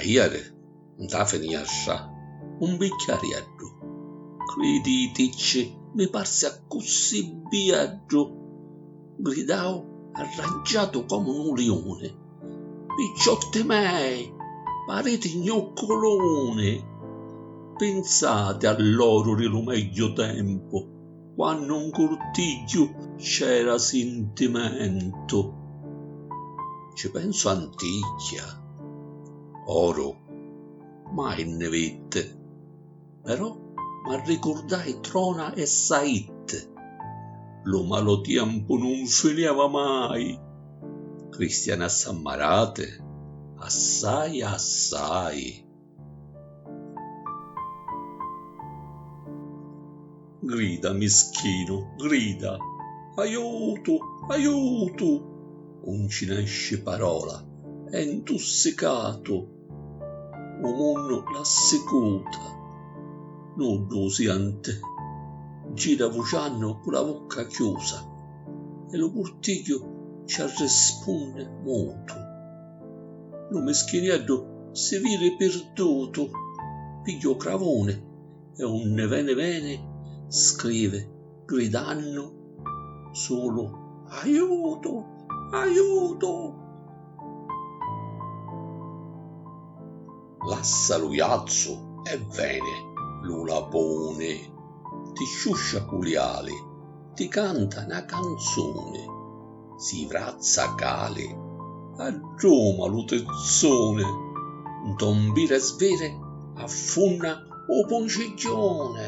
Ieri, nta finiastra, un bicchiarieddu, criditicci mi parsi accussì bieddu, gridau arraggiatu comu nu liuni. Picciotti mei, pariti gnucculuni! Pinsati a l'oru di lu megghiu tempu, quannu 'n curtigghiu c'era sintimentu. Ci pensu anticchia, oru mai nni vitti. Però m'arricurdai trona e saitt. Lu malu tiempu nun finiava mai. Cristiani assammarati, assai assai. Grida mischinu, grida, aiutu, aiutu! Un ci nesci parola, è ntussicatu. u munnu la sicuta, nuddu u sienti, gira vuciannu cu la vucca chiusa e lu purtigghiu ci arrispunni mutu. Lu mischinieddu si viri pirdutu, pigghia u cravuni e unni veni veni scrivi. gridannu sulu Aiutu! Aiutu! Lassa lu jazzu e veni lu lapuni, ti sciuscia cu li ali, ti canta na canzuni, si vrazza cali, adduma lu tizzuni, nto mbiri sviri affunna u puncigghiuni.